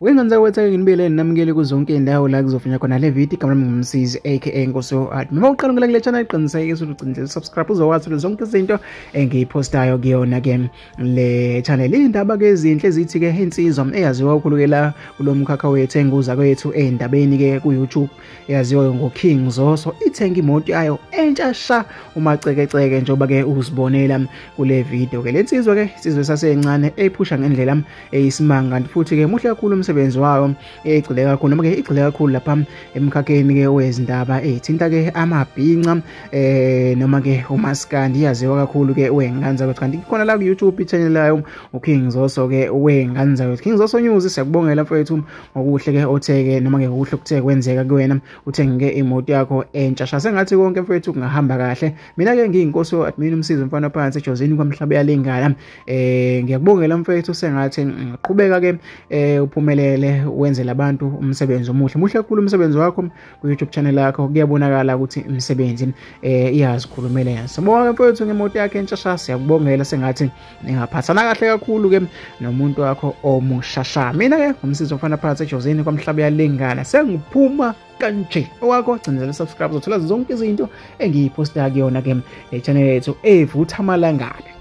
Wengenzeka ukuthi ake nginibele ninamukele kuzo zonke izindawo la kuzofunywa khona le video igama lami ngumsizi aka Nkosi Art. Uma uqala ngila kule channel qiniseke ukuthi ucindile subscribe uzokwazi ukuthi zonke izinto engiyipostayo kuyona ke le channel. Indaba ke ezinhle zithi ke insizwa eyaziwa ukhulukela kulomkhakha wethu enguza kwethu endabeni ke ku YouTube. eyaziwayo ngoKing Zoso ithenga imoto yayo entsha sha umacekeceke njengoba ke uzibonela kule video ke lensizwa ke isizwe sasencane eyiphusha ngendlela eyisimanga kanti futhi ke muhle kakhulu umsebenzi wayo egcile kakhulu noma ke igcile kakhulu lapha emkhakheni ke wezindaba ezithinta ke amabhinca eh noma ke umaskandi yaziwa kakhulu ke wenganza ukuthi kanti khona la ku YouTube i channel layo uKing Zoso ke wenganza ukuthi King Zoso News siyakubongela mfowethu okuhle ke otheke noma ke okuhle kuthe kwenzeka kuwena uthengeke imoto yakho entsha shase ngathi konke mfethu kungahamba kahle mina ke ngiyinkosi we admin umsizi mfana phansi ejozini kwamhlaba yalingana eh ngiyakubongela mfethu sengathi ngiqhubeka ke eh uphumelele wenzela abantu umsebenzi omuhle muhle kakhulu umsebenzi wakho ku YouTube channel yakho kuyabonakala ukuthi imisebenzi eh iyazikhulumela yena sibonga mfethu ngemoto yakhe entsha shase yakubongela sengathi ningaphathana kahle kakhulu ke nomuntu wakho omushasha mina ke ngumsizi omfana phakathi ejozini kwamhlaba yalengana sengiphuma kanje owakho gcinezela subscribe zothola zonke izinto engiyiposta kuyona ke le channel yethu evutha amalangabi